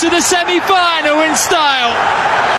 to the semi-final in style.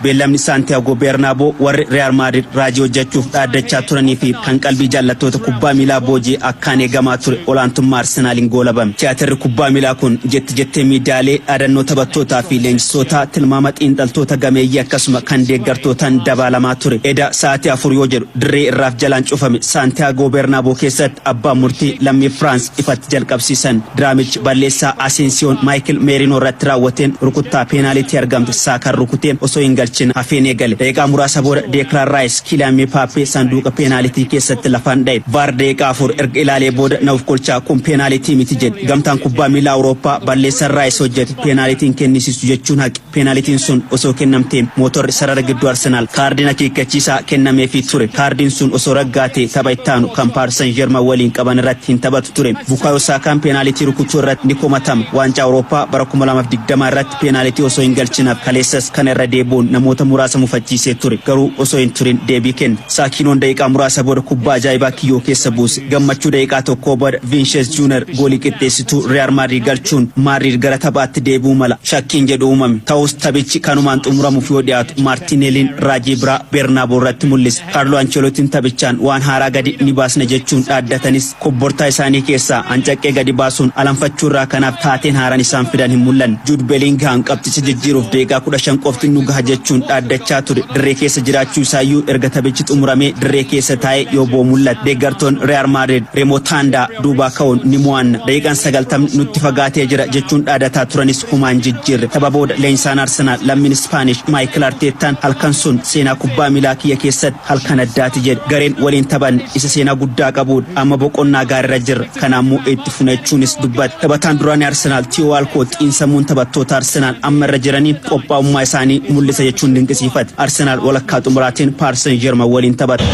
Beellamni Saantiyaagoo Beernaaboo warri Riyaal Maadrid raajii hojjechuuf dhaaddachaa turanii fi kan qalbii jaallattoota kubbaa miilaa boojii akkaan eegamaa ture olaantummaa Arsenaaliin goolabame. Tiyaatirri kubbaa miilaa kun jetti jettee miidiyaalee dhaadannoo taphattootaa fi leenjisootaa tilmaama xiinxaltoota gameeyyii akkasuma kan deeggartootaan dabaalamaa ture. Eda sa'aatii afur yoo jedhu Dirree irraaf jalaan cufame Saantiyaagoo Beernaaboo keessatti abbaan murtii lammii Firaans ifatti jalqabsiisan. Diraamichi balleessaa Aseensiyoon Maayikil Meerinoo irratti raawwateen rukuttaa peenaalitii argamte Saakaan rukutee osoo hin galchin hafeen eegale. Daqiiqaa muraasa booda Deekilaan Raayis Kiiliyaan Miipaappee sanduuqa peenaalitii keessatti lafaan dhaye. Vaar daqiiqaa afur erga ilaalee booda na ofkolchaa kun peenaalitii miti jedhe. Gamtaan Kubbaa Miilaa Awurooppaa balleessan Raayis hojjete peenaalitii hin kennisiisu jechuun haqe. Peenaalitiin sun osoo kennamtee mootorri sarara gidduu Arsenaal kaardiin akeekkachiisaa kennameefii ture. Kaardiin sun osoo raggaatee tapha ittaanu kan Paaris San Jerman waliin qaban irratti hin taphatu ture. Bukaayoo Saakaan peenaalitii rukutuu irratti ni komatama. Waancaa Awurooppaa bara 2020 irratti peenaalitii osoo hin galchin hafe. Kaleessas kana irra deebi'uun namoota muraasa mufachiisee ture. Garuu osoo hin turin deebii kenne. Saakiinoon daqiiqaa muraasa booda kubbaa ajaa'ibaa kiyyoo keessa buuse. Gammachuu daqiiqaa tokkoo booda Viinshees Juuner goolii qixxeessituu Riyaal Maadriid galchuun Maadriid gara taphaatti deebi'uu mala. Shakkiin jedhu uumame. Ta'us taphichi kanumaan xumuramuuf yoo dhiyaatu Maartiineeliin raajii biraa Beernaabow irratti mul'ise. Kaarloo Anchelotiin taphichaan waan haaraa gadi ni baasna jechuun dhaaddatanis kobbortaa isaanii keessaa ancaqqee gadi baasuun alanfachuu irraa kanaaf taateen haaraan isaan fidan hin mul'anne. Juud Beliingihaam qabxicha jijjiiruuf deegaa 15 qofti nu gaha jechuun dhaaddachaa ture dirree keessa jiraachuu isaayyuu erga taphichi xumuramee dirree keessa taa'ee yoo boo'u mul'ate. Deeggartoonni Riyaal Maadriid Remotaandaa. duubaa ka'uun ni mo'anna daqiiqaan sagaltamni nutti fagaatee jira jechuun dhaadataa turanis humaan jijjiirre tapha booda leenjisaan arsenaal lammiin ispaanish maayikil arteettaan halkan sun seenaa kubbaa miilaa kiyya keessatti halkan addaati jedhe gareen waliin taphanne isa seenaa guddaa qabuudha amma boqonnaa gaariirra jirra kana ammoo itti funa jechuunis dubbate taphataan duraanii arsenaal tiyoo waalkoot xiinsammuun taphattoota arsenaal amma irra jiraniin qophaa'ummaa isaanii mul'isa jechuun dinqisiifate arsenaal walakkaa xumuraatiin paarsan jerman waliin taphata.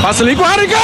Asli Guariguen!